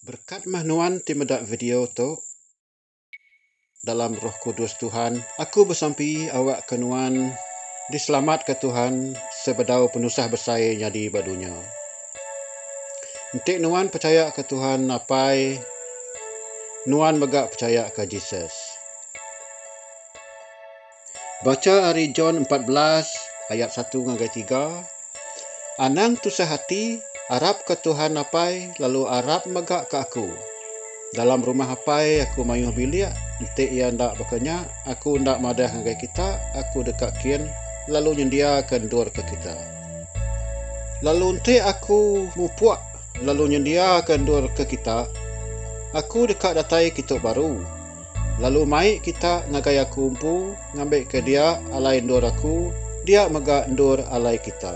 Berkat mah nuan ti meda video tu. Dalam roh kudus Tuhan, aku besampi awakka nuan diselamatka Tuhan sebedau penusah besai nyadi ba dunya. Enti nuan pechayaka Tuhan apai, nuan mega pechayaka Jesus. Bacha ari John empat belas ayat satu ngagai tiga, Anang tusah ati, arapka Tuhan Apai lalu arap mega ka aku. Dalam rumah Apai aku mayuh bilik, enti iya enda baka nya, aku enda madah ngagai kita aku deka kin lalu nyendiaka endur ke kita. Lalu enti aku mupuk lalu nyendiaka endur ke kita, aku deka datai kitu baru. Lalu mai kita ngagai aku empu ngambika dia alai endur aku, dia mega endur alai kita.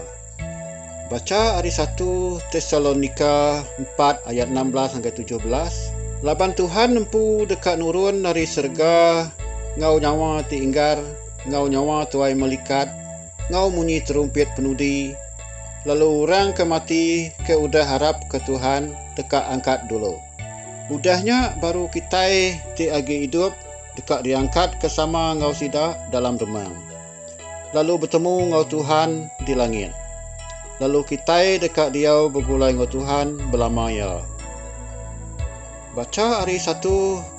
Bacha ari satu Tesalonika empat ayat enam belas ngagai tujuh belas, Laban Tuhan empu deka nurun ari serega enggau nyawa ti inggar enggau nyawa tuai melikat enggau munyi terumpit penudi, lalu orang ke mati ke udah arapka Tuhan deka angkat dulu. Udah nya baru kitai ti agi idup deka diangkatka sama enggau sida dalam demang, lalu betemu enggau Tuhan di langit. Lalu kitai deka diau begulai enggau Tuhan belama iya. Bacha ari 1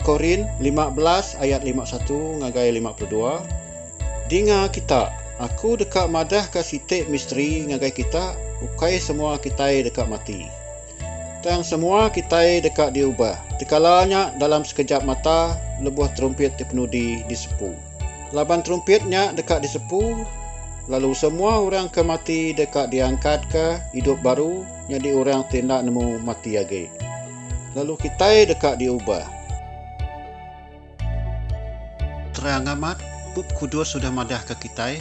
Korin 15 ayat 51 ngagai 52, Dinga kita, aku deka madahka siti misteri ngagai kita, ukai semua kitai deka mati. Tang semua kitai deka diubah tekala nya dalam sekejap mata lebuh terumpit ti penudi disepu. Laban terumpit nya deka disepu, lalu semua orang ke mati deka diangkatka idup baru nyadi orang ti enda nemu mati agi. Lalu kitai deka diubah. Terang amat, Bup Kudus udah madahka kitai,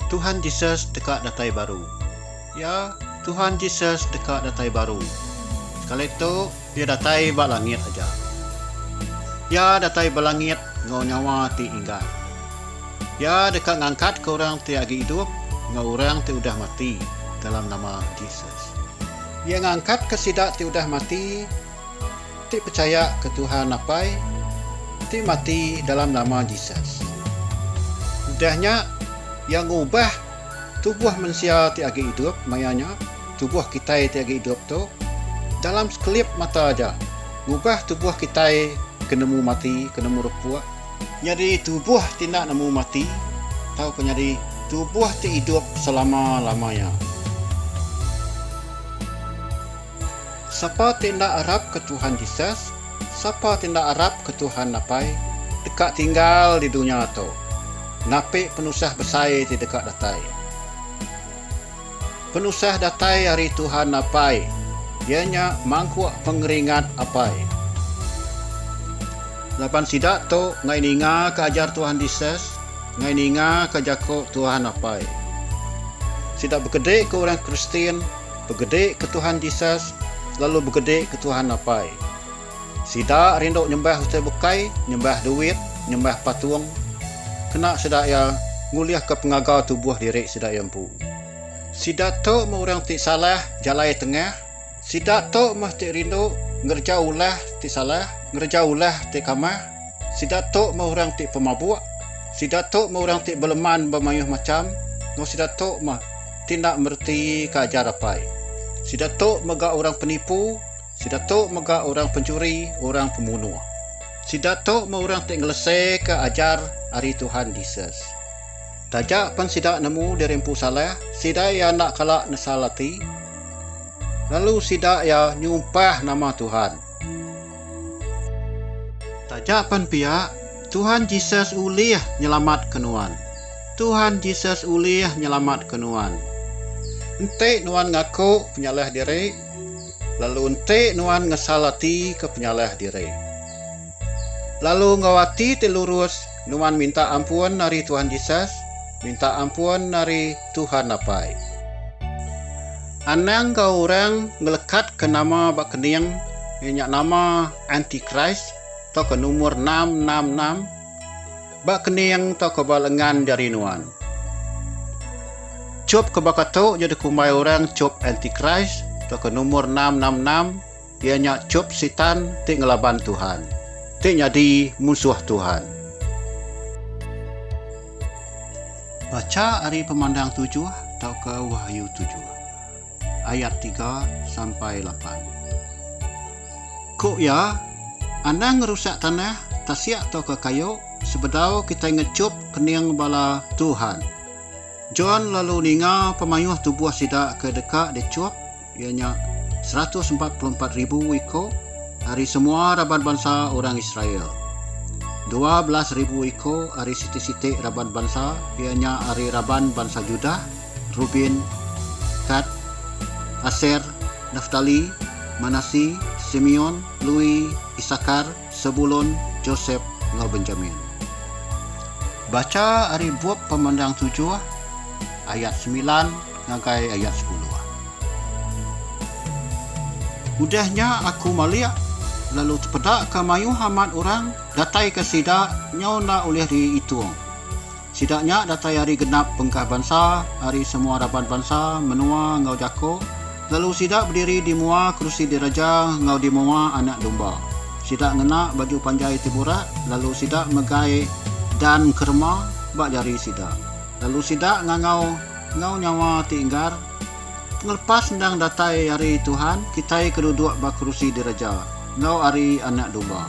Tuhan Jesus deka datai baru. Ya, Tuhan Jesus deka datai baru. Sekali tu, Iya datai ba langit aja. Iya datai ba langit enggau nyawa ti inggar. Iya deka ngangkatka orang ti agi idup enggau orang ti udah mati dalam nama Jesus. Iya ngangkatka sida ti udah mati. Ti pechaya ke Tuhan Apai ti mati dalam nama Jesus. Udah nya, Iya ngubah tubuh mensia ti agi idup, maya nya, tubuh kitai ti agi idup tu, dalam sekelip mata aja, ngubah tubuh kitai ke nemu mati, ke nemu repuk, nyadi tubuh ti enda nemu mati, tauka nyadi tubuh ti idup selama-lama nya. Sapa ti enda arapka Tuhan Jesus? Sapa ti enda arapka Tuhan Apai? Deka tinggal di dunya tu. Napi penusah besai ti deka datai? Penusah datai ari Tuhan Apai, iya nya mangkuk pengeringat Apai. Laban sida tu enggai ningaka ajar Tuhan Jesus, enggai ningaka jaku Tuhan Apai. Sida bekedika orang Kristian Begede ke Tuhan Jesus, lalu begede ke Tuhan Apai. Sida rindu nyembah utai bukai, nyembah duit, nyembah patung, kena sida iya ngulihka pengaga tubuh diri sida iya empu. Sida tu meh orang ti salah jalai tengah, sida tu meh ti rindu ngereja ulah ti salah, ngereja ulah ti kamah, sida tu meh orang ti pemabuk, sida tu meh orang ti beleman ba mayuh macham, enggau sida tu meh. Ti enda mereti ke ajar apai. Sida tu mega orang penipu, sida tu mega orang penchuri, orang pemunuh. Sida tu meh orang ti ngeleseka ajar ari Tuhan Jesus. Taja pen sida nemu diri empu salah, sida iya enda kala nesal ati, lalu sida iya nyumpah nama Tuhan. Taja pen pia, Tuhan Jesus ulih nyelamatka nuan. Tuhan Jesus ulih nyelamatka nuan. Enti nuan ngaku penyalah diri, lalu enti nuan ngesal atika penyalah diri, lalu enggau ati ti lurus Nuan minta ampun ari Tuhan Jesus, minta ampun ari Tuhan Apai. Anang enggau orang ngelekatka nama ba kening iya nya nama antikris tauka numur enam enam enam ba kening tauka ba lengan jari nuan. Chop ke baka tu jadi kumbai orang chop antikris tauka numur enam enam enam. Iya nya chup Sitan ti ngelaban Tuhan, ti nyadi munsuh Tuhan. Bacha ari Pemandang tujuh tauka Wahyu tujuh, ayat tiga sampai lapan. Ku iya, Anang ngerusak tanah, tasik tauka kayu, sebedau kitai ngechup kening bala Tuhan. John lalu ninga pemayuh tubuh sida ke deka dichup, iya nya seratus empat puluh empat ribu iko ari semua raban bansa orang Israel, dua belas ribu iko ari siti-siti raban bansa, iya nya ari raban bansa Judah, Reuben, Gad, Aser, Naftali, Manasi, Simeon, Lewi, Isakar, Sebulon, Josep, enggau Benjamin. Bacha ari bup Pemandang tujuh ayat semilan ngagai ayat sepuluh. Udah nya aku malik, lalu tepedaka mayuh amat orang dataika sida nyau enda ulih diitung. Sida nya datai ari genap bengkah bansa, ari semua raban bansa, menua, enggau jako, lalu sida bediri di mua kerusi diraja enggau di mua Anak Domba. Sida ngena baju panjai ti burak, lalu sida megai dan kerema ba jari sida, lalu sida ngangau enggau nyawa ti enggar, Pengelepas endang datai ari Tuhan, kitai ke duduk ba kerusi diraja, enggau ari Anak Domba.